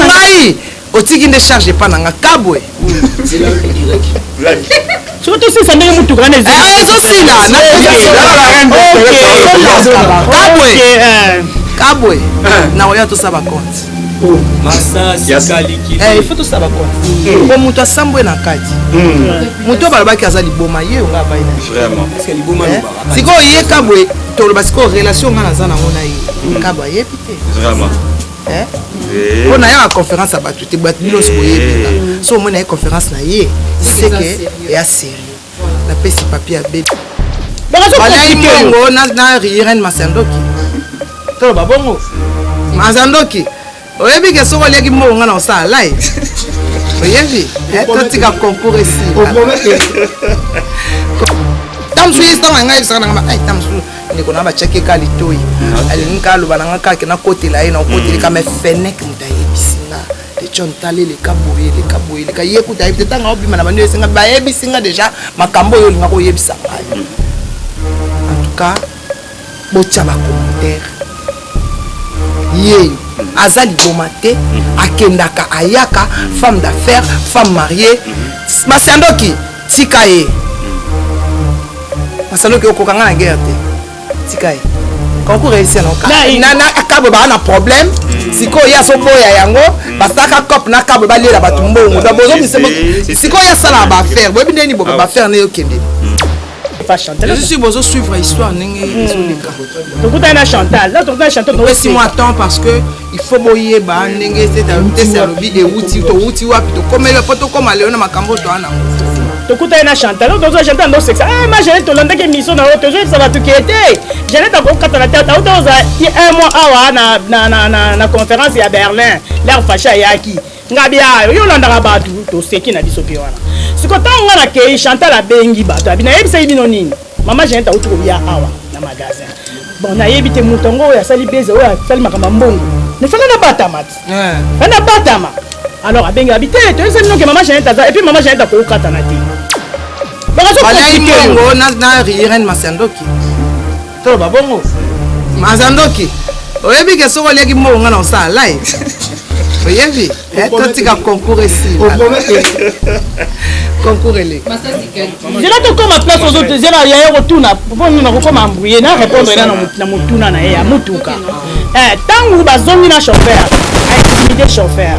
ngai otiki nde charge epa na nga kabwe soki tosisa ndenge motuka wana ezozosila kabwe kabwe na oya tosala bakonte il faut tosala bakonte hmm. po moto asambwe na kati hmm. moto oyo balobaki aza liboma ye onga abai na eh? sikoyo ye kabwe toloba sikoyo relation ngai naza nango na ye hmm. kabwe ayebi te Eh? Eh. mpo nayaka conférence ya bato te bato nyonso eh. boyebela so omoni naye conférence na ye seke ya serie napesi papier ya bebe balai mongo na riren masandoki toloba bongo masandoki oyebi ke soki oliaki mongo nga na osala lai oyebi totika concours esila tamosusu ye ntango ya ngai ebisaka na ngama tamosusu ndeko na batiaki ye ka litoi ah, alingi ka aloba na nga kake nakotela ye nakoteli mm. kama fenek moto ayebisi nga econ tala eleka boye eleka boye eleka ye kuta ayebi te ntango aobima na bando esenga bayebisi nga deja makambo oyo olingaka oyebisa ngai mm. en tout cas botya bacommentaire ye aza liboma te mm. akendaka ayaka femme d'affaires femme mariée basi ya ndoki Tika ye. Masanoki okoka nga na guerre te. Tika ye. Concours réussir na oka. Na na akabo ba na problème. Mm. Siko ya so boya yango mm. basaka cop na kabo ba lela bato mbongo. Ba bozo misemo. Siko ya sala ba faire. Boyebi ndeni bo ba ah faire na yo kende. Mm. pas chanter. Je suis bozo suivre histoire ndenge ezoleka. Tokutana na Chantal. Là tokutana na Chantal. Opesi moi temps parce que il faut boyeba ndenge tese alobi ewuti towuti wapi tokomeli mpo tokoma lelo na makambo toa nango tokutani na chantal oyo tozwa chantal ndo sexa ah, ma janete tolandaki émission na yo tozoyebisa bato ke te janete akokatana te auta ozala un mois awa na conférence ya berlin lare fache ayaki ngabi ayo yo olandaka bato toseki na biso mpe wana siko ntango ngai nakei chantal abengi bato abi nayebisaki bino nini mama jeanete auti koya awa na magasin bon nayebi te moto yango oyo asali beze oyo asali makambo ya mbongo nefanda nabatama ti fanda batama alors abengi abi te toyebisa bino ke mama jeanete aza epuis mama jeanete akokatana te bakazokongo na irene masandoki toloba bongo maza ndoki oyebi ke soki oliaki mbongo nga na osala lai oyebi eh, totika concours esili concours eleki zela tokoma place ozozela yaya kotuna mpo nini nakokoma ambrouye na répondre ena na motuna na ye ya motuka ntango eh, bazongi na chauffeur aimide chauffeur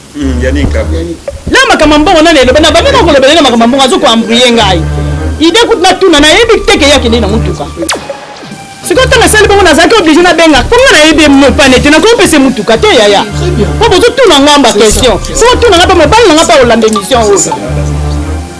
Hmm, Yannick na makambo mbongo nani eloba na bamema kolobela na makambo mbongo azoko embrouye ngai ide kutu natuna nayebi te ke ye akende na motuka sikoyo ntango asali bongo nazalaki oblige nabengaka mpo ngai nayebi mopane te nakopesa motuka te yaya mpo bozotuna ngai mba question soko tuna ngai mpe mobali na ngai mpe olanda émission oyo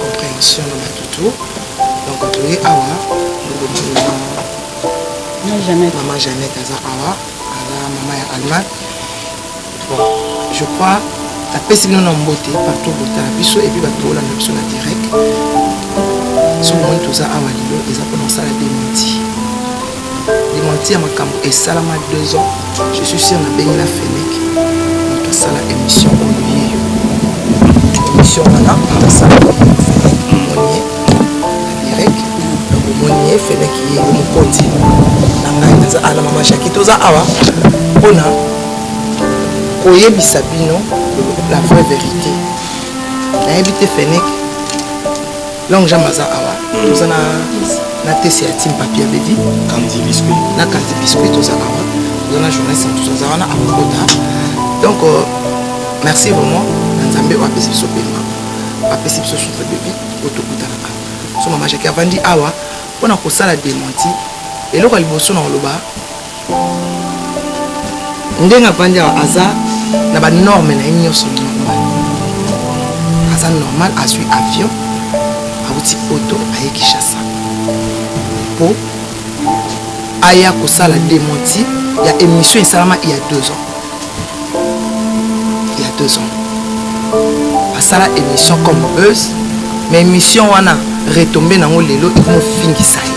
comprehension na batu to donc toye awa mama janete aza awa aza mama ya allemagne bon je crois napesi bino na mbote partout botala biso epuis bato bolanda biso na direct soki omoni toza awa lelo eza mpona osala dementi Demanti ya makambo esalama 2 ans, je suis sûr na bengi na Fenec moto asala émission oyo ye émission wana moto asala Fenec omoni ye direct donc omoni ye Fenec ye mokonzi na ngai naza ala mama Jackie toza awa mpona koyebisa bino la vraie vérité nayebi te Fenec Long jambe aza awa hmm. toza na na tese ya team papier baby kandi biscuit na kandi biscuit toza awa toza na journée sans toza aza wana akokota donc euh, merci vraiment na nzambe oyo apesi biso pema apesi biso sutre baby oyo tokutanaka so mama jaki avandi awa mpo na kosala dementi eloko ya liboso na koloba ndenge avandi awa aza na banorme na ye nyonso normal aza normal azwi avion auti poto aye kinshasa mpo aya kosala dementi ya émission esalama ya deux ans ya deux ans asala émission comme buzz mais émission wana retombe nango lelo ekomofingisa ye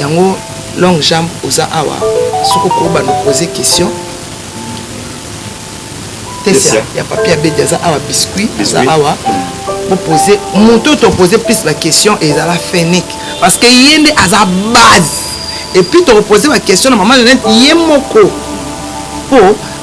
yango long jambe oza awa soki okoki bando poser question tesia ya papi abedi aza awa biscuit aza awa bopose moto topose plus baquestion ezala fenic parce que ye nde aza base epuis tokopose baquestion na mama lenete ye moko mpo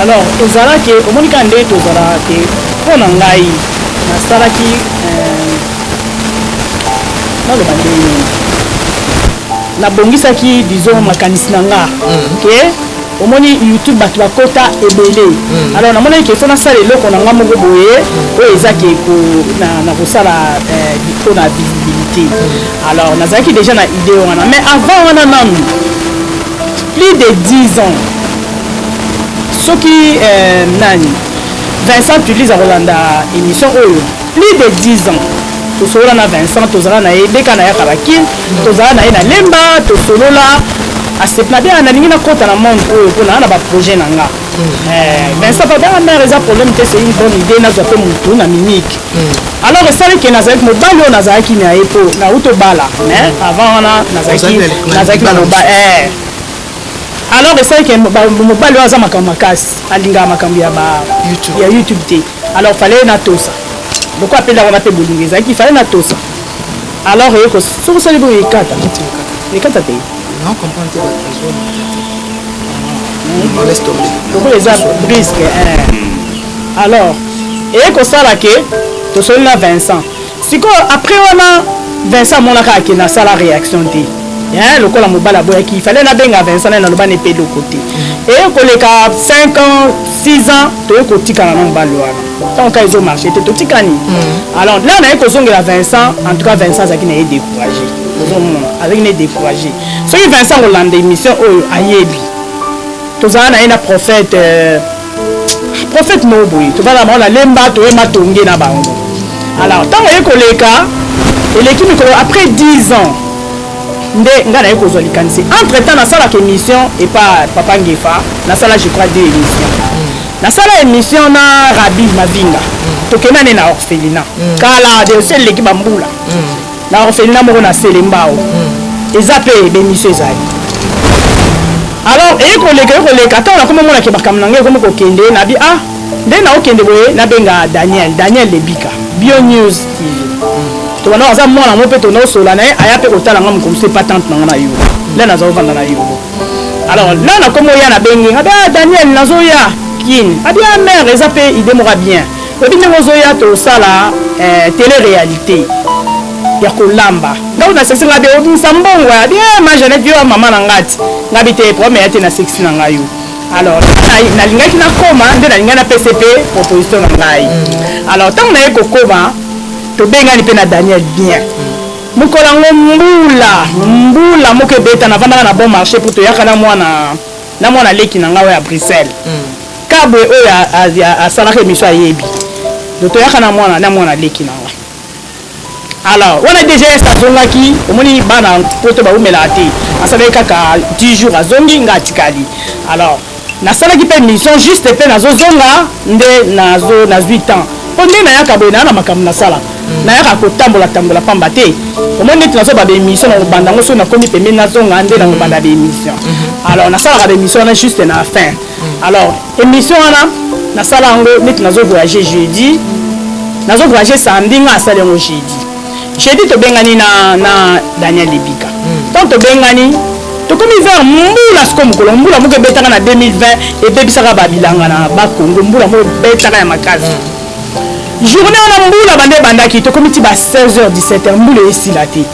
alors ezalaki omoni kaka ndenge tozalaka te mpo na ngai nasalaki euh, naloba ndenge nabongisaki disons makanisi na nga mhm. ke omoni youtube bato bakota ebele mm. alors namonaki ke fo nasala eloko na nga moko boye oyo oh, eza ke na kosala mpo eh, na visibilité mm. alors nazalaki déjà na idée wana mais avant wana nanu plus de 10 ans soki euh, nani vincent tulise akolanda émission oyo Plus de 10 ans tosolola na Vincent, tozala na ye deka nayaka ba kin, tozala na ye na lemba, tosolola asepela bien nalingi nakota na monde oyo mpo naa na ba projet na nga eh, Vincent papa nga mare eza problème te c'est une bonne idée nazwa mpe motu na mimiki alors esali ke nazalaki mobali oyo nazalaki na ye mpo nauti obala mais avant wana nazalaki na mobali eh. alors esali ke mobali oyo aza makambo makasi alingaka makambo ya youtube te alors fallait na tosa lokola mpe ndako wana mpe bolingo ezalaki fallait na tosa alors eko soki osali boye ekata ekata te lokola eza briske eh. alors eye kosala ke tosoli na vincent Sikoyo après wana Vincent amonaka akende asala reaction te. Hein, lokola mobali aboyaki, il fallait nabenga Vincent na naloba ne pedo côté. Et koleka 5 ans, 6 ans, toye kotikana na mobali wana. Tant que ezo marcher te totikani. Mm. Alors là naye kozongela Vincent, en tout cas Vincent azaki na ye découragé. Ozomona, azaki na ye découragé. Soki Vincent kolanda émission oyo ayebi. Tozala na ye na prophète euh, prophète moko boye tobala bango na lemba toye matonge na bango alors ntango aye koleka eleki mikolo après 10 ans nde ngai naye kozwa likanisi entre temps nasalaka émission epa papa ngefa nasala je crois deux émission nasala émission na rabi mavinga tokenda ne na orphelina mm. kala de ose eleki bambula mm. Na orphelinat moko na Selembao. Eza pe b'emission ezali. Alors eye koleka eye koleka tango nakomi omona ke makambo na ngai ekomi kokende nabi ah nde naokende boye nabenga Daniel Daniel Lebika Bio News TV tobanda aza mwana yango mpe tobanda kosolola na ye aya mpe kotala ngai mokolo mosusu epa tante na ngai na yolo nde naza kovanda na yolo alors na nakomi oya nabengi abi ah Daniel nazoya kini abi ah mère eza mpe ide moko ya bien Oyebi ndenge ozoya tosala eh, tele realite ya kolamba ngai na sexe ngai be obimisa mbongo ya bie eh, ma janete yo ya mama na ngai ti ngai bi te problème ya te na sexe na ngai yo alors nalingaki nakoma nde nalingaki napesa mpe proposition na ngai mm. alors ntango naye kokoma tobengani mpe na daniel bien mokolo yango mbula mbula moko ebeta navandaka na bon marché mpo toyaka na mwana na mwana leki na ngai oyo ya bruxelles kabwe oyo asalaka emission ayebi toyaka na mwana na mwana leki na ngai alors wana dgs azongaki omoni bana poto baumelaka te asalaki kaka 10 jours azongi nga atikali alors nasalaki mpe mission juste mpe nazozonga nde nazwi temps mpo nde nayaka boye naa na makambo nasalaka nayaka kotambola tambola pamba te omoni neti nazobanda émission na kobanda yango soki nakomi pembeni nazonga nde na kobanda ba émission mhm. alors nasalaka ba émission wana juste na fin mhm. alors émission wana nasala yango neti nazo voyage jeudi nazo voyage samedi nga asali yango jeudi jeudi tobengani na, na daniel lebika mhm. ntango tobengani tokomi vers mbula siko mokolo mbula moko ebetaka na 2020 ebebisaka babilanga na bakongo mbula moko ebetaka ya makasi journée wana mbula banda ebandaki tokomi ti ba 16 h 17 h mbula esila te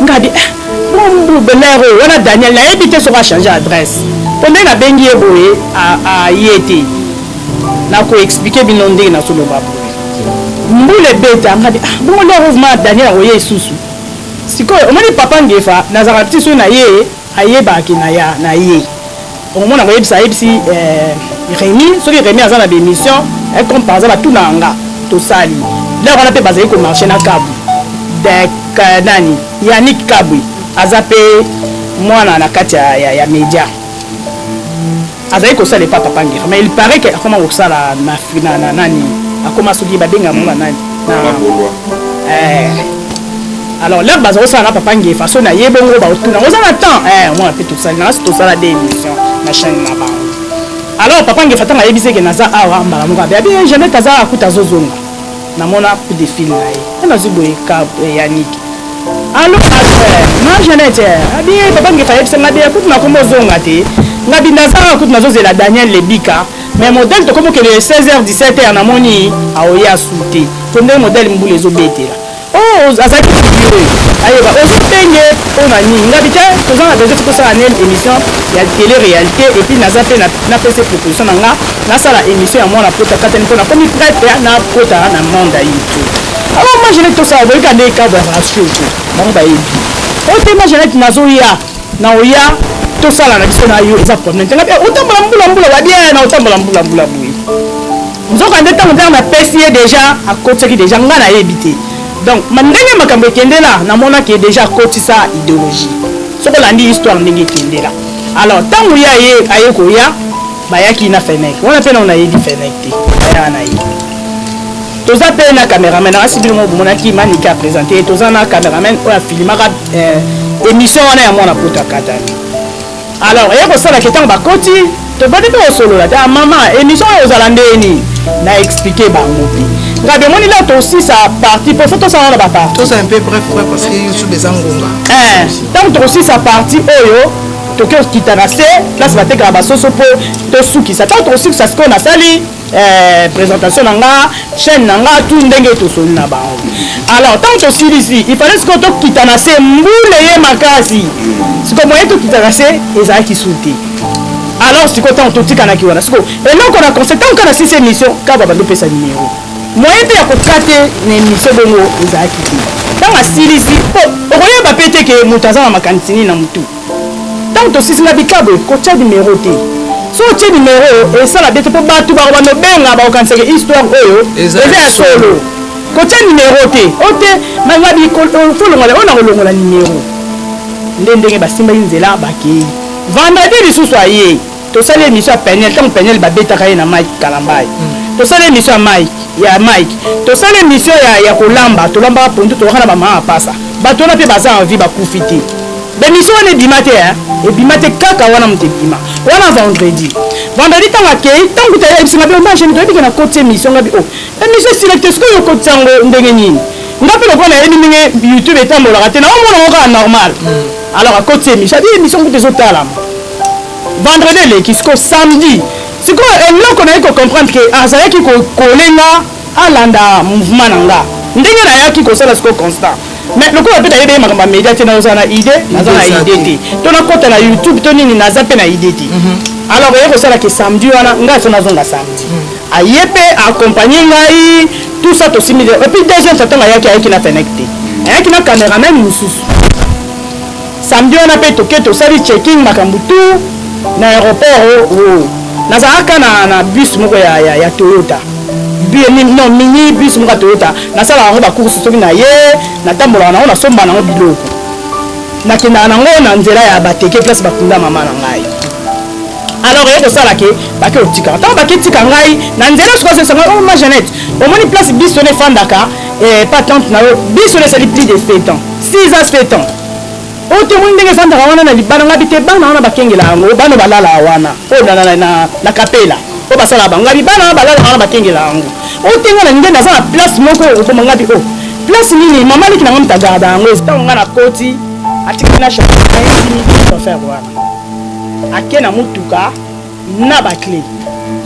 nga bi eh, mbu belair oyo wana daniel nayebi te soki achange adresse mpo ndenge nabengi ye boye aye te nakoexplike bino ndenge nazoloba boye mbula ebeta nga bi ah, bongo lero vma daniel akoye esusu sikoyo omoni papa ngefa nazalaka ti so na ye Ayebaka ke naya naye okomona koyebisa ayebisi eh, Remy soki Remy aza na bemission eh, comme par exemple atunaka nga tosali lere wana mpe bazali komarche na kabu de nani Yannick Kabwe aza mpe mwana na kati ya, ya, ya media azali kosala epa papa ngera mais il paraît que akoma kosala na, na, na nani akoma soki babenga yango na nani eh. alors lere baza kosala na papa ngefa so na ye bongo baotuna oza na temps eh, mwana mpe tosali na kasi tosala de émission na chaîne na bango alors papa ngefa ntango ayebisi eke naza awa mbala moko abe abi eh, janete aza akuta azozonga Na mona coup de fil na ye. Nga nazwi boye kab eh, Yannick. Allo pasteur, ma Jeannette, eh, abi eh, papa ngefa yebisa nga de kutu nakomi ozonga te. Nga bi naza awa kutu nazozela Daniel Lebika. Mais modèle tokomi okende 16h 17h namoni aoye asute. To ndenge modèle mbula ezobetela. Oh, oz- azali ayeba osutenge mpo na nini nga bite toza na besoin tikosala nel émission ya télé réalité epuis naza mpe na- napesa proposition na nga nasala emission ya mwana pota katani mpo nakomi prete nakota na monde ya youtube alors moi jeanette tosala boyika nde ekabo ya ratio te bango bayebi oyo te moi jeanette nazoya na oya tosala na biso na yo eza problème te ngabe otambola mbula mbula wabia na otambola mbula mbula boye nzoka nde ntango ntango napesi ye déjà akotisaki déjà ngai nayebi te donc ndenge makambo ekendela namonaki déjà akotisa idéologie soki olandi histoire ndenge ekendela alors ntango ye aye koya bayaki na fenêtre wana mpe nao nayebi fenêtre te bayaka na ye toza mpe na cameraman asi bino mo bomonaki manike apresente ye toza na cameraman oyo afilimaka eh, émission wana ya mwana poto akatani alors eye kosalaka ntango bakoti tobandi mpe kosolola te ah, mama émission oyo ozala ndeni na explike bango mpe nga bemoni la tosisa parti mpo fo tosala na baparti tosala mpe bref bref parce que youtube eza ngonga eh, ntango tokosisa parti oyo toke kokita na se place batekaka basoso mpo tosukisa ntango tokosukisa sikoyo nasali eh, présentation na nga chaîne na nga tu ndenge tosoli na bango alors ntango tosilisi ifale sikoyo tokita na se mbule ye makasi sikoyo moye tokita na se ezalaki su te alors sikoyo ntango totikanaki wana sikoyo eloko na conseil ntango ka na sisi émission kaba bandopesa nimero moye mpe ya kokate na émission bongo ezalaki te ntango asilisi mpo okoyeba mpe te ke moto aza na makanisi nini na motu Ntango tosilisi na bikabwe, kotya nimero te. Soki otye nimero, esala bete mpo bato bakoba nobenga bakokanisa ke histoire oyo eza ya solo. Kotya nimero te, ote mangabi folongola oyo nakolongola nimero. Nde ndenge basimbaki nzela bakei. Vendredi lisusu ayei. tosali emission ya peniel ntango peniel babetaka ye na mike kalambay mm. tosali emission ya mike ya mike tosali emission ya, ya kolamba tolambaka pondu tolaka na bamama apasa bato wana mpe baza envi bakufi te bemission wana ebima te ebima te kaka wana moto ebima wana vendredi vendredi ntango akei ntango tayebisanga mpe omageni toyebi ke na koti emission ngabi o oh, emission esila te sikoyo okotisa yango ndenge nini nga mpe lokola nayebi ndenge youtube etambolaka te naomona yango kaka normal mm. alors akoti emission abi emission kutu ezotalama vendredi eleki siko samedi sikoyo eloko naye ko comprendre ke azalaki kokole nga alanda mouvement na nga ndenge nayaki kosala siko constant mais lokola mpe nayebi ye makambo ya media te nazala na idée naza na idée te to nakota na youtube to nini naza mpe na idée te mhm. alors eye kosala ke samedi wana ngai so nazonga samedi mhm. aye mpe accompagne ngai tout ça tosimbi epuis deuxième fois ntango ayaki ayaki na fenek te ayaki na cameraman mosusu Samedi wana pe toke tosali checking makambo tout na aéroport o oh, oh. nazalaka na, na bus moko ya, ya, ya Toyota non mini bus moko ya Toyota nasalaka yango bakursi soki na ye natambolaka nango nasombaka nango biloko nakendaka nango na nzela ya bateke place bakunda mama na ngai alors eye kosala ke bake otikaka ntango bake tika ngai na nzela soki azokisa ngai oma oh, janete omoni place biso na efandaka eh, patante na yo biso na esali plus de 7 ans 6 ans 7 ans oyo te omoni ndenge efandaka wana na libanda ngabi te bana wana bakengela yango bana balalaka wana oyo na, na, na, na kapela oyo basalaka bango ngabi bana wana balalaka wana bakengela yango oyo te nga na nde naza na place moko okoma ngabi o oh, place nini mama liki na nga mitagarda yango ntango nga nakoti atikaki na chauffeur wana ake na motuka na bakle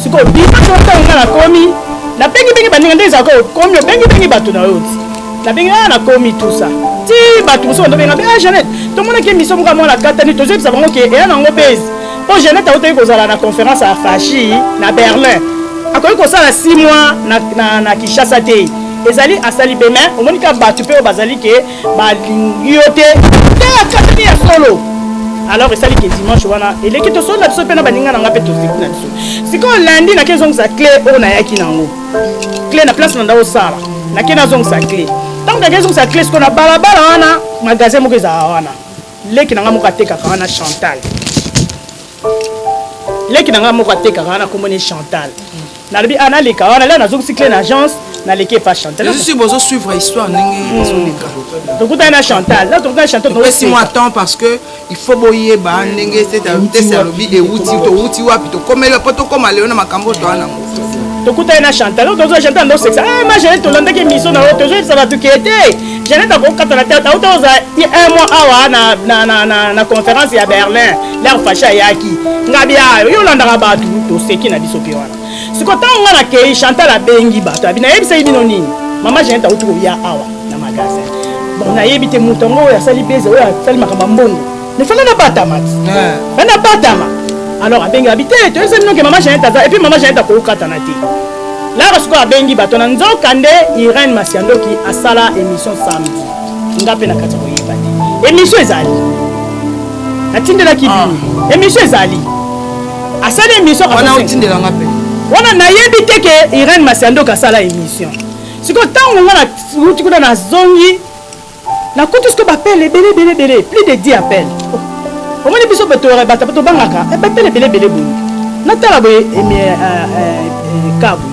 sikoyo biso ntango nga nakomi nabengibengi baninga nde ezalaka okomi obengibengi bato na yo ti nabengi a ah, nakomi tusa ti bato mosusu bandobenga mpe a ah, janete tomonaki emiso moko ya mwana katani tozoyebisa bango ke eya nango bezi mpo janete autaki kozala na conférence ya fashi na berlin akoki kosala 6 mois na, na, na kinshasa te ezali asali beme omoni ka bato mpe oyo bazali ke balingi yo te te akatani ya solo alors esali ke dimanche wana eleki tosolo na biso mpe na baninga na nga mpe tozeki na biso sikoyo landi nake ezongisa cle oyo nayaki nango cle na place na nda osala nake nazongisa cle ntango nake ezongisa cle sikoyo na balabala wana magasin moko ezala wana leki na nga moko atekaka wana chantal leki na ngai moko atekaka wana kombo ne chantal nalobi ah naleka wana lelo nazongisi cle na agence naleki epa chantalsi bozosuivre histoire ndenge hmm. ezoleka tokutani na chantal na tokutani chantal topesi mwa temps parce que il faut boyeba ndenge tese alobi ewuti towuti wapi tokomeli mpo tokoma lelo na makambo oyo toa nango tokutani na chantal oyo tozwa chantal ndo sexa eh, ma jeanette tolandaki émission na yo tozoyebisa bato ke te jeanette akokata na tete auta ozala un mois awa na, na, na, na, na conférence ya berlin lar facha ayaki ngabi ayo yo olandaka bato toseki na biso mpe wana siko ntango nga nakei chantal abengi bato abi nayebisaki bino nini mama jeanette auti koya awa na magasin bon nayebi te moto yango oyo asali beze oyo asali makambo ya mbongo mais fana nabatama ti eh. fana batama alors abengi abi te toyebisa bino ke mama janete aza epuis mama janete akoki kokatana te lara sikoyo abengi bato na nzoka nde irene masiandoki asala émission samedi nga mpe na kati ya koyeba te émission ezali natindelaki ah. bino émission ezali asali émission wana otindelanga mpe wana nayebi te ke irene masiandoki asala émission sikoyo ntango nga na uti kuna nazongi Na kutu siko ba pele ebele ebele ebele plus de 10 appel. Omoni biso bato ya bata bato bangaka eh, ba pele ebele ebele boye. Natala boye emi eh, eh, eh, kabu.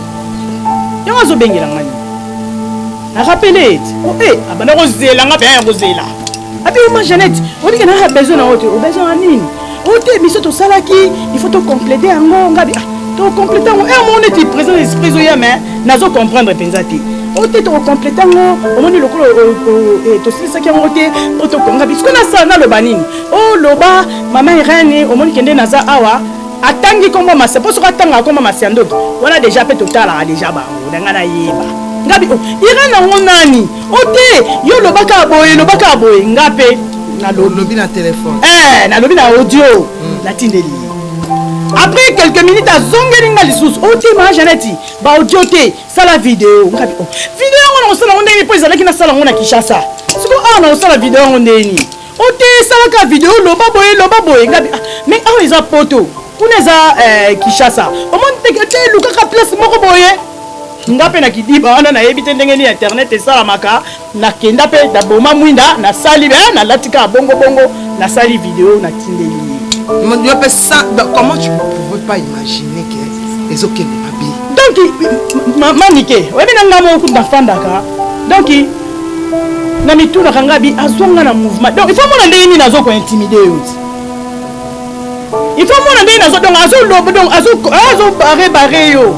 Yango azobengela ngani. Na rappele ete oh eh abanda kozela nga pe ya kozela. Abi ma Jeannette, olingi na besoin na ote, o besoin na nini? oyo te biso tosalaki il faut tocomplete yango ngabi ah, tocomplete yango eh, omoni neti président esprit ezoya me nazo comprendre mpenza te oyo te tokocomplete yango omoni lokola eh, tosilisaki yango te mpo tokonga bisiko nasala naloba nini oloba oh, mama irene omoni kende naza awa atangi nkombo masa mpo soki atangaka nkombo masa ndoki wana deja mpe totalaka deja bango na ngai nayeba ngabi oh, irene yango nani o te yo loba kaka boye loba kaka boye nga mpe nalobi na telefone eh, nalobi na audio hmm. natindeli ye après quelques minutes azongeli nga lisusu otima oh, janeti baaudio te sala video ngabi oh, video yango nakosala yango ndenge mpo ezalaki nasala yango na kinshasa siko awa ah, nakosala video yango ndenge nini Oteyi salaka video loba boye loba boye ngabi ah, mais awa eza poto kuna eza eh, Kinshasa omoni teke te lukaka place moko boye nga mpe na kidiba wana nayebi te ndenge nini internet esalamaka nakenda mpe naboma mwinda nasali be eh, nalati kaka bongobongo nasali video natindeli ye mpe ça comment tu pouvais pas imaginer que ezokende mabe donc manike oyebi na ngai moko nafandaka donc na mitunaka nga bi azwa nga na mouvement donc ifo mona ndenge nini azo kointimide yo ti ifo mona ndenge nazo donc azoloba donc azobare bare yo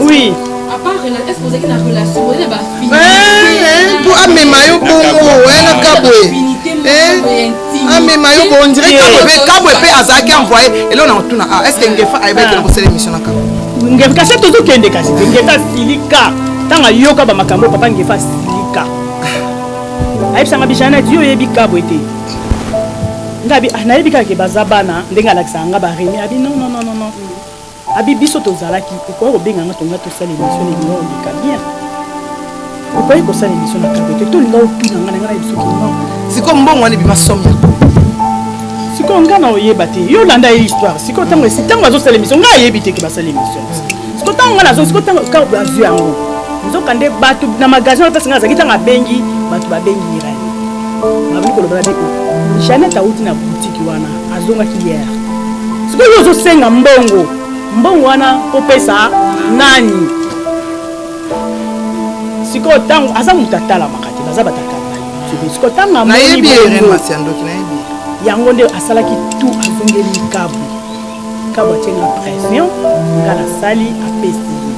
oui mpo amema yo bongo wana kabwe amema yo bo ondire kabwe pe kabwe pe azalaki envoye elo na otuna ah est-ce que ngefa ayebaki ah. na kosala émission na kabwe ngefa kasi tozokende kasi ngefa asilika ntango ayoka bamakambo papa ngefa asilika ayebisanga bijana ti yo oyebi kabwe te ngabi ah, nayebi kaka ke baza bana ndenge alakisaka nga baremi abi non non non non Abi biso tozalaki okoya kobenga nga tonga tosala emission na ebima oleka bien okoki kosala emission na kabe te tolinga otuna nga na nga na biso kino siko mbongo wana ebima somme ya sikoyo ngai na oyeba te yo olanda ye histoire sikoyo ntango esi ntango azosala emission ngai ayebi te ke basala emission sikoyo ntango ngai nazo sikoyo ntango kaka bazwi yango nzoka nde bato na magasin wana place ngai azalaki ntango abengi bato babengi irani babi kolobana biko janete awuti na butiki wana azongaki hier sikoyo yo ozosenga mbongo mbongo wana kopesa nani sikoyo ntango aza moto atalamaka te baza batatalamasikoyo ntango amoni yango nde asalaki tu azongeli likabu likabu atie na pression nga nasali apesi ye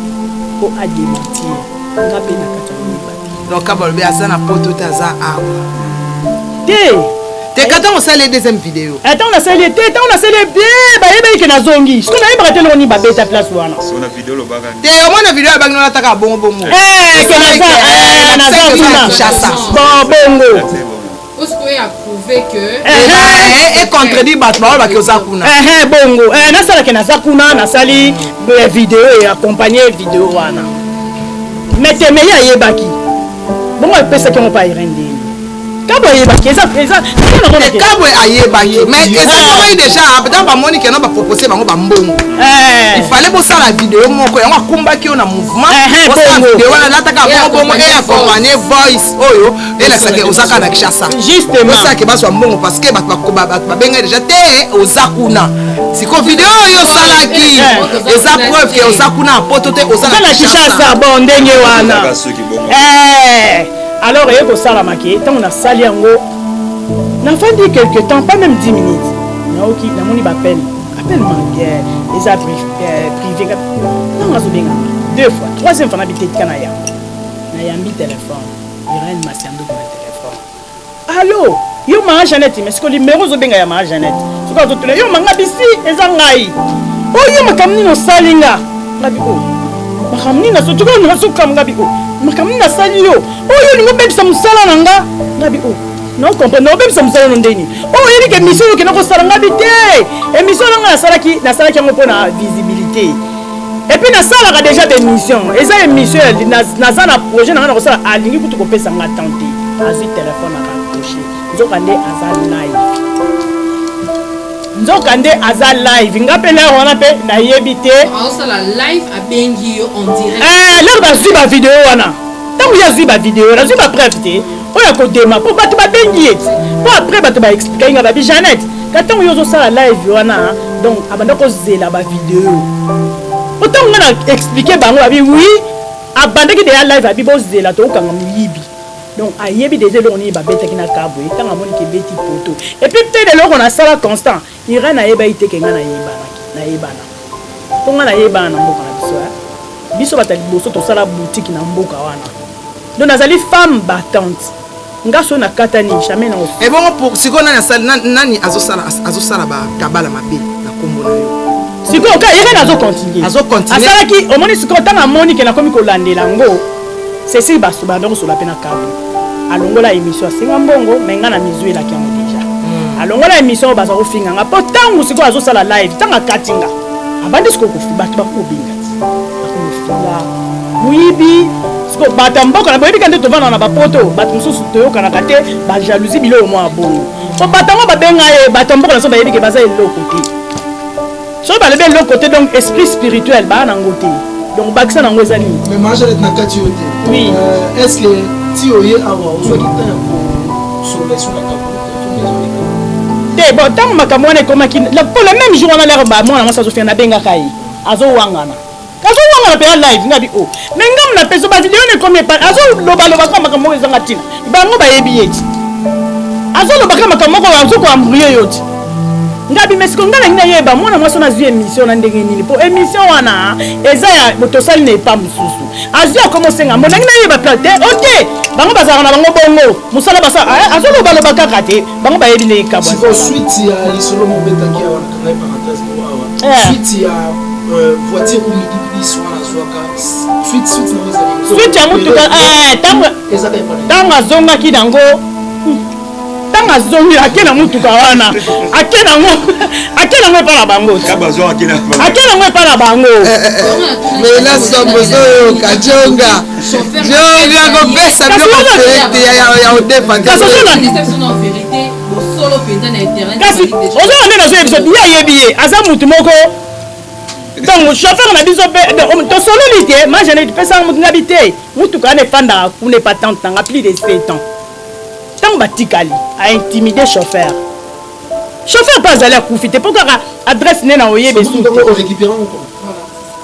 mpo adementir nga mpe na kati ya donc kaba alobi aza na poto te aza awa te te ka ntango osali ye deuxième video eh, ntango nasali ye te ntango nasali ye bie bayebaki ke nazongi siko nayebaka te eloko nini babeta place wana te omona video yabangi nolataka bongo bongo eh, eh, naza kuna bongo econtredire bato baoyo bake oza kuna bongo nasalake naza kuna nasali video eaccompagne video wana metemei ayebaki bongo epesaki yango pa irende kabwe ayebaki eza eza kabwe ayebaki mais ezalaki déjà ntango bamoni kena bapropose bango bambongo il fallait bosala video moko yango akumbaki yo na mouvement bosala video wana lataka bongo bongo e accompagne voice oyo elasake oza kaka na kinshasa osake bazwa mbongo parceke bato babengai deja te oza kuna siko video oyo osalaki eh, eh. eza preuve ke oza kuna na poto te oza na kinshasa bo ndenge wana eh, alors eye kosalama ke ntango nasali yango nafandi quelque temps pas même 10 minutes naoki namoni bapel apel manguer eza privé ntango nazobenga deux fois troisième fois nabi tetika na yango nayambi telefone Irène Masianduku na telephone. Allô Yo maman Jeannette mais siko numéro ozo benga ya maman Jeannette. Siko azo tuna yo manga bisi eza ngai. Oyo makambo nini osali nga? Ngabi o. Makambo nini nazo tuko nazo kam ngabi o. Makambo nini nasali yo? Oyo lingo bebisa musala na nga. Ngabi o. Non comprendre non bebisa musala no ndeni. Oyo yebi ke mission yo kena ko sala ngabi te. Emission na nga nasalaki nasalaki yango pona visibilité. epuis nasalaka deja bemission eza emission naza na projet na ngai na kosala alingi kutu kopesa ngai temps te azwi telefone akaproche nzokande aza live nzokande aza live nga mpe lere wana mpe nayebi te lere bazwi bavideo wana ntango ye azwi bavideo nazwi bapreve te oyo akodema mpo bato babengi ye mpo apres bato baexplika inga babi janete ka ntango yo ozosala live wana donc abanda kozela bavideo mpo ntango nga na explike bango babi wi abandaki deya live abi bozela tokokanga moyibi donc ayebi deja eloko nini babetaki na kabwe ntango amoni kebeti poto epuis mpe leloko nasala constant Irène ayebaki te ke nga nayebanaki, nayebana. Po nga nayebana na mboka na biso eh. Biso bato ya liboso tosala boutique na mboka wana. Donc nazali femme battante. Nga soki nakatani jamais nao. Ebongo pour sikoyo nani asali nani azosala azosala ba kabala mabe na kombo na yo? Sikoyo ka Irène azo continuer. Azo continuer. Asalaki omoni sikoyo tanga amoni ke nakomi kolandela ngo. Cecile Basu banda kosola pe na Kabu. Alongola emission asenga mbongo mais nga na mizu elaki yango deja. Hmm. Alongola emission baza kofinga nga po tangu sikoyo azosala live tanga kati nga. Abandi sikoyo kofi bato bakobenga ti. Bakofinga moyibi sikoyo bato ya mboka na boyebika nde tovanda na bapoto bato mosusu toyokanaka te bajalousie biloko mwa bongo po bato yango babenga ye bato ya mboka na biso bayebi ke baza eloko te soki balobi eloko te donc esprit spirituel baa nango te donc bakisa nango eza nini mais majalet na kati yo te oui euh, est ce que ti oye awa ozwaki temps ya kosolola sur la te bon ntango makambo wana ekomaki mpo le même jour wana lere bamwana mwasi azofina nabengaka ye azowangana azowangana mpenza live nga bi o oh. me ngambo na peso bavideo na ekomi epa azolobaloba kaka makambo moko ezanga ntina bango bayebi ye ti azoloba kaka makambo moko azokoambrie yo ti nga bimesiko nga nangi nayeba mwana mwasi wana azwi émission na ndenge nini mpo émission wana eza ya tosali na epa mosusu azwi akoma osenga mbo nangi nayeba pla te o te bango bazalaka na bango bongo mosala basala eh, azolobaloba kaka te bango bayebi ndenge kabwa swite ya motuka ntango eh, azongaki nango ntango azongi ake na motuka wana ake nango ake nango epai na bango ake nango epai na bango mela somo ozoyoka jonga jonga kopesa biloko verite ya odefa kasi ozoya nde nazoya biso ye ayebi ye aza motu moko donc chauffeur na biso mpe tosololi te majane topesaka motu ngabi te motuka wana efandaka kuna epatante nanga plus de 7 ans ntango batikali aintimide chauffeur chauffeur mpe azali akufi te mpo kaka adresse nde na oyebe su te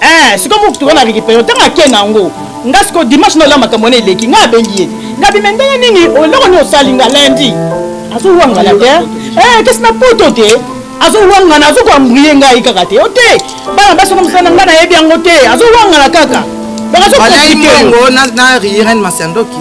Eh, siko mutu toza na récupération ntango ake na yango nga siko dimanche na ola makambo wana eleki nga abengi ye nga bime ndenge nini oloko nini osali nga lundi azowangana te eh, kasi na poto te azowangana azokoambrie ngai kaka te o te bana basi na mosala na ngai nayebi yango te azowangana kaka donc azokongo na riren masandoki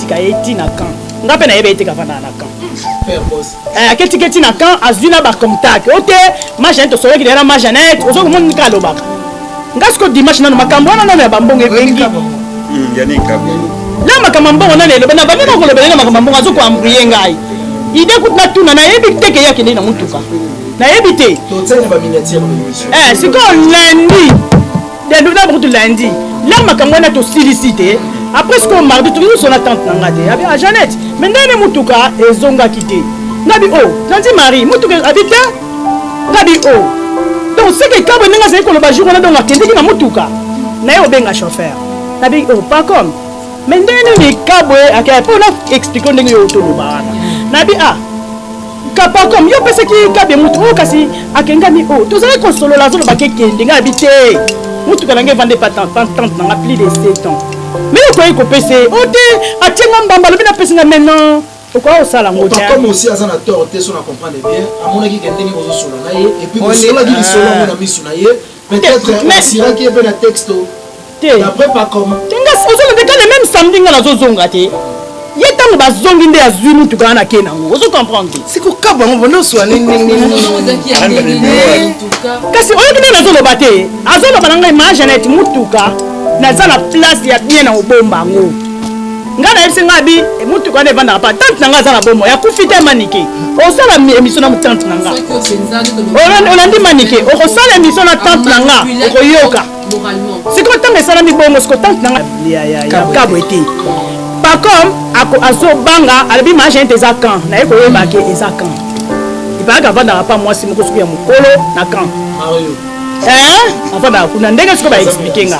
Tika ye ti na camp. Nga pe na yebe ete kavanda na camp. Père boss. Eh aketi keti na camp azui na ba contact. Ote ma Jeanette osolaki na ma Jeanette ozo komoni nika alobaka. Nga siko dimanche nanu makambo wana nanu ya bambongo ebengi. Hmm, Yannick Kabo. Na makambo mbongo nanu eloba na bameka kolobela na makambo mbongo azo ko embrouiller ngai. Ide kutu na tuna na yebi te ke yakende na mutuka. Na yebi te. Totsene ba miniature na mission. Eh siko lundi. Dedoublement kutu lundi lelo makambo wana tosilisi te après sikoyo mardi tokoki kosona tante na nga te abi a janete me ndenge nde motuka ezongaki te ngabi o oh, nandi marie motuka abi te ngabi o oh. donc seke kabwe ndenge azali koloba jour wana donc akendeki na motuka na ye obenga chauffeur nabi o oh, pas comme me ndenge nini kabwe akea mpo na explike ndenge yo otoloba wana nabi a ah, Kappa comme yo pesaki kabe mutu oyo kasi akengami oyo tozalaki kosolola azoloba kekende ngai abi te motuka na ngai evande pa tante na nga plus de 7 ans me okoki kopesa ye o te atie nga mbamba alobi napesi nga maintenant okoki kosala ngo te comme aussi aza na tort te so na comprendre bien amonaki ke ndenge kozosolola na ye epuis bosololaki lisolo yango na misu na ye Peut-être ye pe na texto. Te. D'après pas comme. Tenga ozo lobe ka le même samedi nga nazo zonga te. Ye tango ba zongi nde azui mutu ka na ke nango. Ozo comprendre te. Siko ka bango bono swa ni ni ni. Kasi oyo kina nazo loba te. Azo loba na ngai ma Jeannette mutuka. Naza na place ya bien na obomba ngo. nga nayebisi nga abi eh, motuka wana evandaka pa tante na nga aza na bomo yakufi te manike osala émission na tante na nga olandi manike okosala émission na tante na nga okoyoka sikoyo ntango esalami bongo siko tante na nga kabwe te pacom azobanga alobi magente eza kan naye koyebake eza kan ipayaka avandaka pa mwasi moko soki ya mokolo na kan eh, avandaka kuna ndenge sikoyo baexplike nga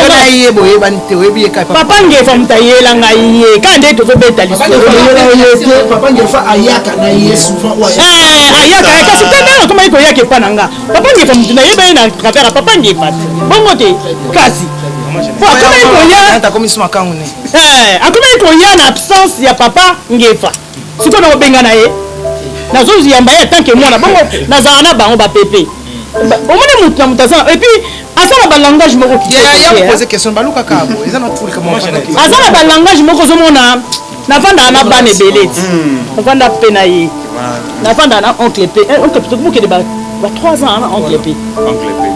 yo na ye boyebani te oyebi ye kaka papa ngefa moto ayela ngai ye kaka nde tozobeta lisoyela ye te papa ngefa ayaka na ye souvent eh, ayaka ye kasi te ndenge akomaki koyaka epa na nga papa ngefa moto nayeba ye na travers ya papa ngefa te bongo te kasi po akomaki koya eh, akomaki koya na absence ya papa ngefa sikoyo nakobengana ye nazoyamba ye atanke mwana bongo nazala na bango bapepe omoni moto na moto aza epuis aza na balangage moko aza na balangage moko ozomona nafandaka na bana ebele ti nafanda mpe na ye nafandaka na oncle mpe oncle mpe tokokende ba 3 ans na oncle mpe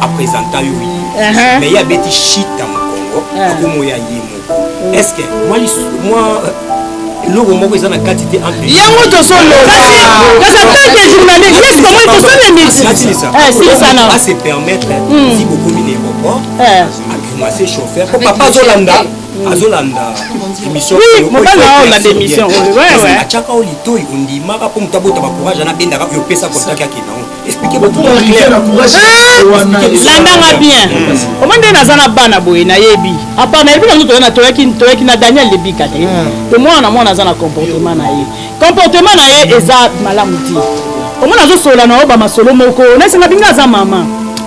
apresenta yo ye uh-huh. mais ye abeti shita mokongo uh-huh. akomo ya ye moko uh-huh. est ce que mwa eloko moko eza na kati te yango tozolobaase permettre si bokomi na aéroport agrimase chauffeur po papa azolanda azolanda émissionatiaka o litoi ondimaka mpo moto abota bacourage ana bendaka oyo opesa kontaki akenda landanga bien omoi nde naza na bana boye nayebi apa nayebi nango toyana toyaki toyaki na daniel lebika te to mwana na mwana aza na comportement na ye comportement na ye eza malamu te omona azosolola na yo bamasolo moko nasenga binga aza mama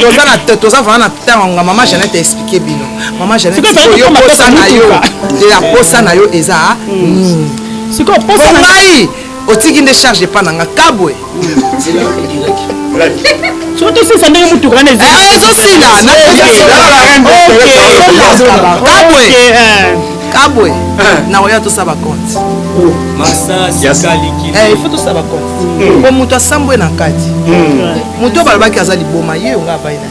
toza na toza vraiment na ntango yango mama janete aexplike bino mama janeteoyo posa na yo ya posa na yo eza nini sikoyo posa na ngai otiki nde charge epa na nga kabwe soki tosisa ndenge motuka wana ezosila kabwe kabwe nakoya tosa bakonte il faut tosa bakonte po moto asambwe na kati moto oyo balobaki aza liboma ye yo nga apai na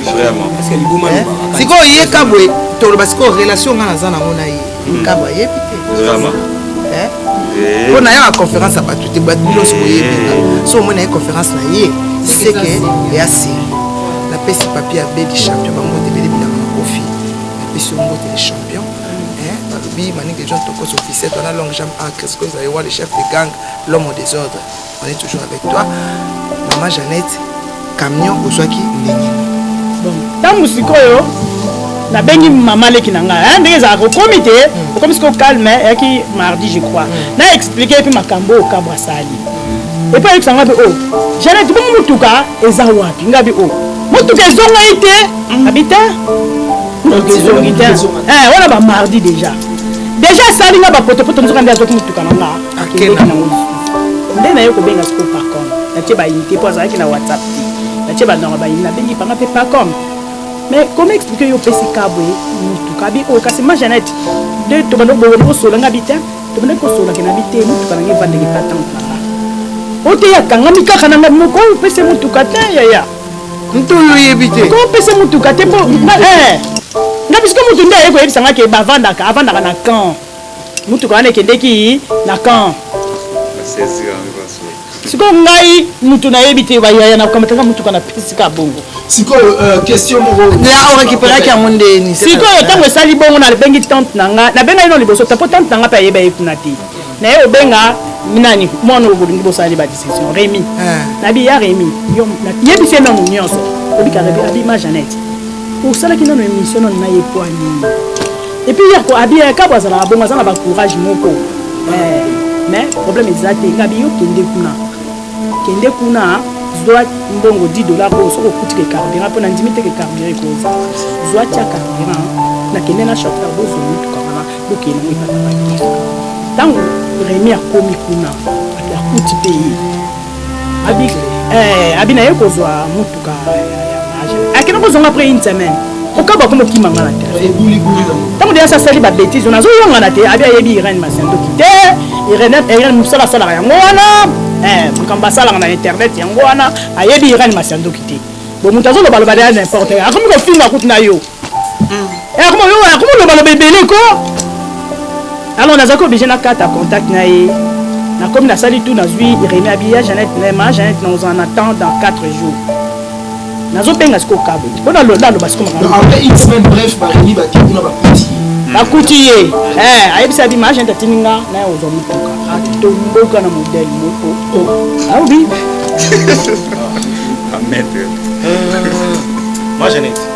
eh? sikoyo ye kabwe toloba sikoyo relation ngai naza nango na ye hmm. kabwe ayebi te eh? eh. mpo nayaka conférence ya bato te bato nyonso boyebi so omoi na ye conférence na ye seke ya seri napesi papier ya bedi champion bango tebele bilanga na kofi napesi yo ngote le champion balobi maninga jean tokos officiel wana long jam acres kozala ewa le chef de gang l'homme au désordre On est toujours avec toi. Maman Jeannette, camion ozwaki ndenge ntango sikoyo nabengi mama leki na ngai ndenge ezalaka okomi te hmm. okomi sikoyo calme eyaki mardi je crois hmm. na explike epi makambo oyo kabwa asali epi ayebisa ngai mpe o oh, janet bongo motuka eza wapi ngai bi o oh, motuka ezongaki te hmm. abi te motuka ezongi te eh, wana bamardi déjà déjà asali ngai bapotopoto nzoka nde azwaki motuka na ngai akendaki nango lisusu nde naye kobenga siko pacom natie bayini te mpo azalaki na whatsapp te natie bandanga bayini nabengi panga mpe pacom mais comment expliquer yo opesi kabwe motuka abi oyo kasi ma janete nde tobanda kobonga kosola nga bi te tobanda kosolaka na bi te motuka nange evandaki patante na nga oteya akangami kaka na nga moko opesi motuka te yaya moto oyo oyebi te ko opesi motuka te mpo nga eh. bisika moto nde aye koyebisa nga ke bavandaka avandaka na camp mutuka wana ekendeki na camp sikoyo ngai mutu nayebi te bayaya na komataka mutuka na pisika bongo sikoyo euh, question moko la orekiperaki yango ndeni sikoyo ntango esali bongo nabengi tante na nga nabenga ino liboso te mpo tante na nga mpe ayeba ye kuna te naye obenga nani mwana oyo bolingi bosala nde badiscussion remi ah. nabi ya remi yebisi ye nanu nyonso obika remi abi ma janete osalaki nano émission nano na ye poa nini Et puis hier ko abi eh, kabo azala bongo azala ba courage moko. Eh, mais problème ezate ngabi yo kende kuna. Kende kuna zwa mbongo 10 dollars oyo soki okuti ke carburant mpo nandimi te ke carburant ekoza zwa tya carburant nakende na shop bozwa motuka wana bokende yango epatabaki ntango remi akomi kuna akuti mpe ye abi eh abi na ye kozwa mutuka akende kozonga après une semaine okaba akoma okima nga na te ntango deya asasali babétise ona azoyongana te abi ayebi irene masendoki te irene mosala asalaka yango wana eh, makambo asalaka na internet yango wana ayebi irene masendoki te bo moto azolobaloba deya n'importe akomi kofinga kutu na yo eh, akoma yo akoma loba loba ebele ko alors nazalaki oblige nakata contact na ye nakomi nasali tout nazwi remi abiya janete nema janete naozala na temps dans 4 jours nazobenga sikoyo kabo mpo naloba sikoyo bakuti ye eh, ayebisa bi maagent atindi nga naye ozwa motuka atomboka na modele moko aobi oh. ah, ah, ah, maître. Euh, moi, j'en ai.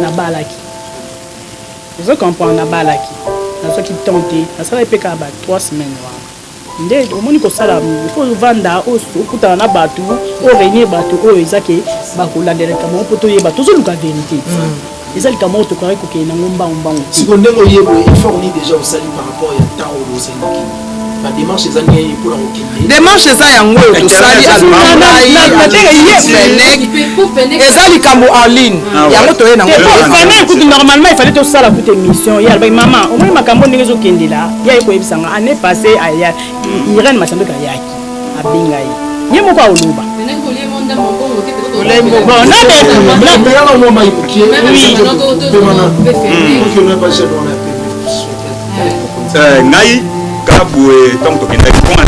Nabalaki. Ozo comprendre? Nabalaki. Nazwaki temps te. Nasalaki pe kaka ba trois semaines wana. Nde omoni kosala il faut ovanda okutana na batu o reunier batu oyo eza ke bakolandela likambo yango po toyeba tozoluka verite. Mm. eza likambo oyo tokokaki kokende nango mbangu mbangu te siko ndenge oye boye effort nini deja osali par rapport ya temps oyo bozali na kini demarche eza yango oyo tosali eza likambo en ligne ah yango toye nangofanel kutu normalement efali tosala kutu émission ye alobaki mama omoni makambo ndenge ezokendela ye aye koyebisa nga année passé aya irene masandoki ayaki abenga ye ye moko aoloba Bon, non, mais... Eh, ngai kaka boye ntango tokendaki mpona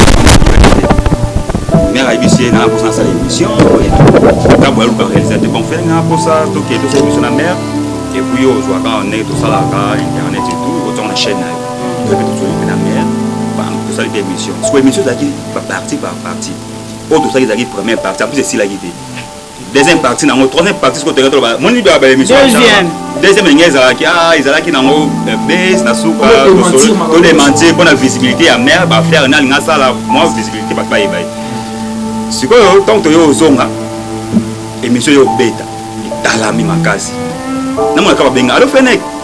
mère ayebisi ye naa mposa nasala émission kaka boye aluka réalisateur bon fere ngaa mposa tokende tosala émission na mère epuis yo ozwaka ndenge tosalaka internet etout otonga na chaîne na yo toyebi tozweli mpe na mère tosali mpe émission siko émission ezalaki baparti par parti oyo tosalaki ezalaki première parti en plus esilaki te deuxième partie nango troisième partie soko toyaka toloba moni ba émission deuxième deuxième ndenge ezalaki ah ezalaki nango euh, base na suka to démentir mpo na visibilité ya mère ba faire na alinga asala mwa visibilité bato bayeba ye sikoyo ntango toyo ozonga émission yo obeta etalami makasi namonaka babenga alo feneke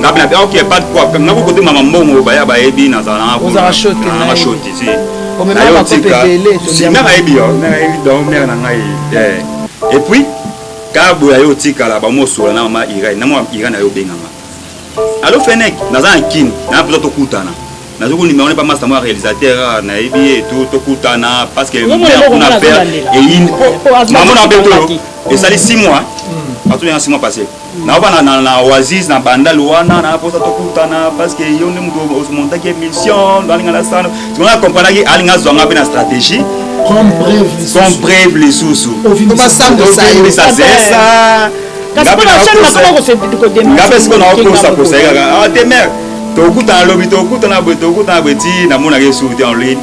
nga bina ah, ok pas de problème nga kokote mama mbongo baya bayebi nazala nanga kozala shoti nanga shoti si nayo tika si mère ayebi yo mère ayebi donc mère na ngai eh. et puis kaka boye ayo otikala bamosola na mama irai na mwa irai na yo obenganga alo fenek naza na kini na mpenza tokutana nazo konimero pa masta mwa réalisateur ah, nayebi ye to tokutana parce que kuna père eyini mama na beto esali 6 mois hmm. bato yanga 6 mois passé naobana na, na oasis na bandal wana na posa tokutana parce que yo nde moto omontaki émission alinga na sano sikoyo na comprenaki alinga azwa nga mpe na stratégie comme preuve lisusu obimisa zesa ngape sikoyo naokosakosa ye kaka ah, te mare tokutana lobi tokutana boye tokutana boye ti namonaka esuku te en ligne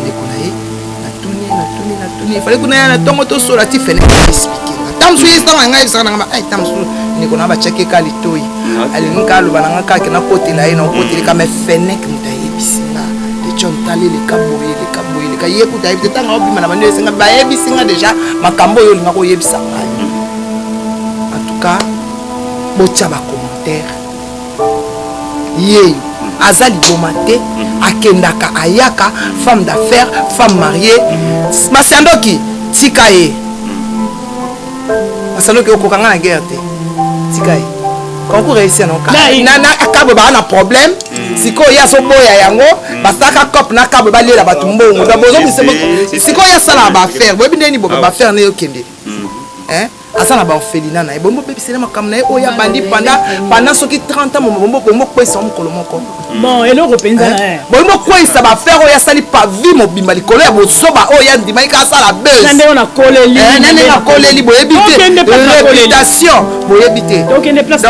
ndeko na ye natuni natuni natuni efali kuna ya na ntongo tosola ti fene explike nga ntango mosusu ye ntango na ngai ebisaka na nga ai ntango mosusu ndeko na batiaki eka litoi alingi ka aloba na nga kake nakotela ye nakokoteli ka me fenek moto ayebisi nga dejon tali leka boye leka boye leka ye kuta ayebi te ntango aobima na bandi esenga bayebisi nga deja makambo oyo olinga koyebisa ngai en tout cas botya bakomantere yeyo aza liboma te akendaka ayaka femme d'affaires femme mariée masiandoki tika ye masiandoki okoka nga na guerre te tika ye concours eyesi yango kabwe baa na problème mm. sikoyo ye azoboya yango mm. basalaka cop na kabwe balela bato mbongo sikoyo asala baaffaire boyebi ndeni boba baaffaire neyokende mm. aza na baorphelina na ye bombo obebisela makambo na ye oyo abandi panda soki 30 ans bombo bokwesa mokolo moko bon eloko mpenza eh? boyi bokwesa bafere oyo asali pavi mobimba likolo ya bosoba oyo andimaki ka asala besnandenge nakoleli eh, boyebi te reputation boyebi te donc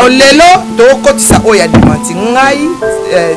lelo tokokotisa oyo ya dimanti ngai eh,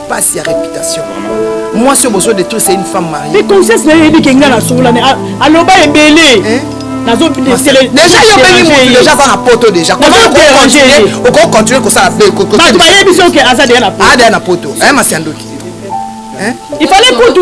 pasi ya reputation mwasi oyo bozo detruire c'est une femme mariée mais conscience na yo eyebi ke nga na solola ne aloba ebele nazo déjà yo bengi mutu déjà aza na poto déjà okoki continuer kosala bato bayebi soki aza deya na poto adeya na poto aye masiandoki il fallait kutu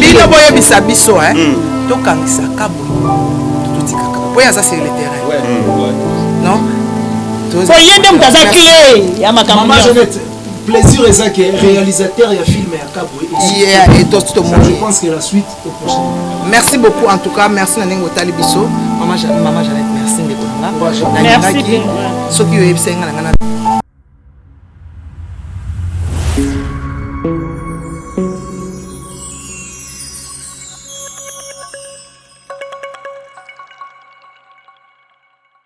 bino boyebisa biso hmm. tokangisa kabo totikaka mpo ye aza sur le terrain hmm. non po ye nde moto aza clé ya makambo plaisir eza ke réalisateur ya film ya kabwe tomoni Merci beaucoup en tout cas merci na ndenge otali biso maman maman Jeannette merci ndeko na nga nalingaki soki oyebisaki nga na nga na